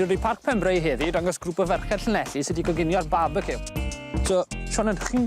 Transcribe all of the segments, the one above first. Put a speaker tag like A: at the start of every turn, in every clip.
A: Dwi wedi Parc Penbrae heddi i dangos grŵp o ferched Llanelli sy wedi coginio'r barbeciw. So, Siôn yn chi'n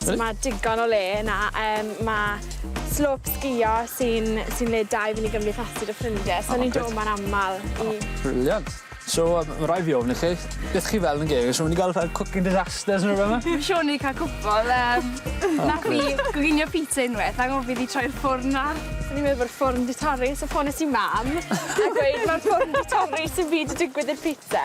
A: So ma' digon o le yna yym ma' slop sgïo sy'n sy'n le da i fyn' i gymdeithasu 'da ffrindie so ni'n do' 'ma'n amal i... O brilliant. So yy ma' rai' fi ofyn i chi beth chi fel yn geg so myn' i ga'l fel cooking disasters ne' rwbeth yma? Dwi siŵr ni ca'l cwpwl yym nath fi goginio pizza unweth a gof i fi troi'r ffwrn ar. O'n i'n meddwl bod y ffwrn 'di torri so ffones i mam a gweud ma'r ffwrn 'di torri sim byd 'di digwydd i'r pizza.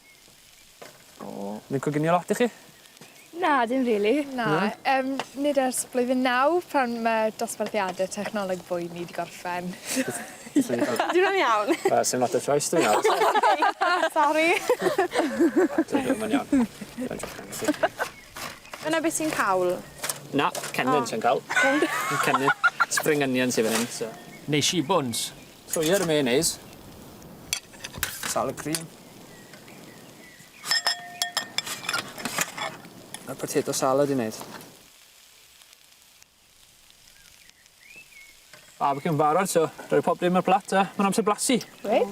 A: O. Mae'n coginio lot i chi? Na, dim rili. Na. Na? Yym, nid ers blwyddyn naw pan ma' dosbarthiade technoleg boeni 'di gorffen. Dim yn iawn. Wel, sim lot o choice 'da fi nawr. Sori. Dwi'n gwbo ma'n iawn. Reit oce nes i. Dyna be' ti'n cawl? Na, cennin sy'n cawl. Cennin. Spring onions sy fan 'yn so. Nesh i buns. Trwy'r mayonnaise. Salad cream. A potato salad i wneud. Barbecue yn barod so rhoi pob dim ar y plat a mae'n amser blasu. Reit.